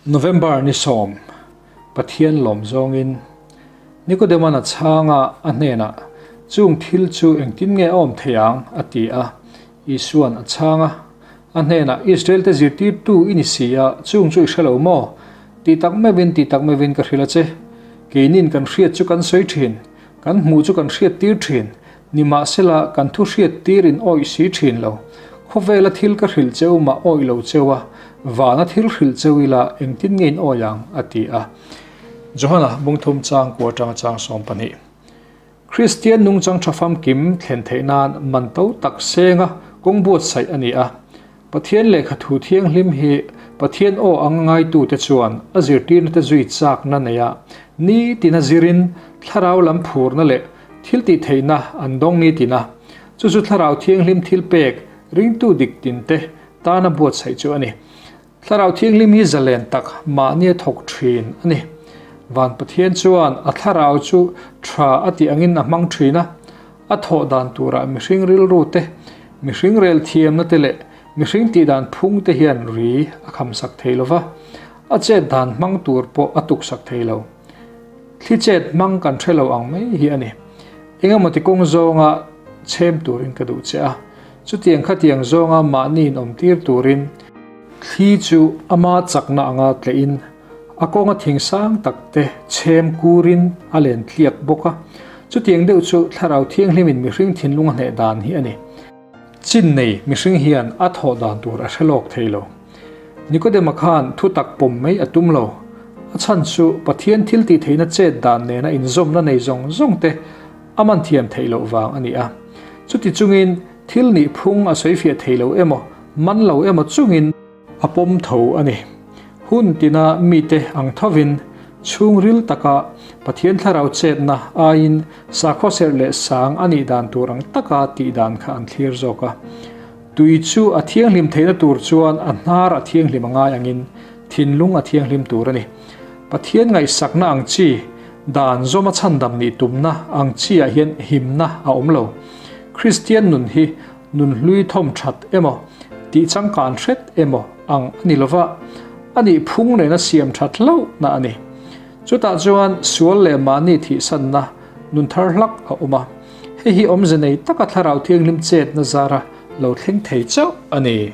November ni sawm, Pathian lawm zawngin Nicodeman a chhang a, a hnenah, Chung thil chu engtin nge a awm thei ang? a ti a. Isua'n a chhang a, a hnenah, Israelte zirtirtu i ni si a, chung chu i hre lo maw? Tih tak meuhin, tih tak meuhin ka hrilh a che. Keinin kan hriat chu kan sawi thin, kan hmuh chu kan hriattir thin. Ni mahsela kan thu hriat tir in awih si thin lo. Khawvela thil ka hrilh cheu mah awih lo cheu a, vana thil hrilh cheu ila engtin nge in awih ang? a ti a. Johana bungthum chang kua tang chang sawm pahnih. Kristian nungchang tha famkim thlen theih nan man to tak senga kawng buatsaih a ni a. Pathian lehkha thu thianghlim hi Pathian aw anga ngaitute chuan a zirtirnate zui chakna neia nitina zirin thlarau lam phurna leh thiltihtheihna an dawng nitina chu chu thlarau thianghlim thilpek ringtu dik tinte tana buatsaih chu a ni. Thlarau thianghlim hi zalen tak mahnia thawk thin a ni. Van Pathian chuan a thlarau chu tha a tih angin a hmang thin a, A thawh dan turah mihring rilrute, mihring rel thiamnate leh mihring tih dan phungte hian ri a khamsak thei lo va, a chet dan hmang tur pawh a tuksak thei lo. Thli chet hmang kan hre lo ang mai hi a ni. Engemawti kawng zawnga chhem turin ka duh che a, chutiang khatiang zawnga mahniin awmtir turin, thli chu ama chakna anga tlein A kawnga thing sang tak te chhem kurin a len tliak bawk a, chutiang deuh chu thlarau thianghlimin mihring thinlung a hneh dan hi a ni. Chin nei mihring hian a thawh dan tur a hre lawk thei lo. Nicodema khan thutak pawm mai a tum lo. A chhan chu Pathian thiltihtheihna chet dan nena inzawmna nei zawng zawng te a man thiam theih loh vang a ni a. Chuti chungin thil nihphung a sawifiah thei lo emaw, man lo emaw chungin, A pawm tho a ni. Hun tina mite ang thovin chhungril taka Pathian thlarau chetna aiin sakhaw serh leh sang a nih dan tur ang taka tih dan kha an thlir zawk a. Tui chu a thianghlim theihna tur chuan a hnar a thianghlim a ngai angin thinlung a thianghlim tur a ni. Pathian ngaihsakna ang chi dan zawma chhandam nih tumna ang chiah hian himna a awm lo. Kristian nun hi nun hlui thawm that emaw, tih changkan hret emaw ang a ni lo va, a nih phung nena siam that hlauhna a ni. Chutah chuan sual leh mahni thihsanna nun thar hlak a awm a, hei hi awmze nei taka Thlarau Thianghlim chetna zara lo thleng thei chauh a ni.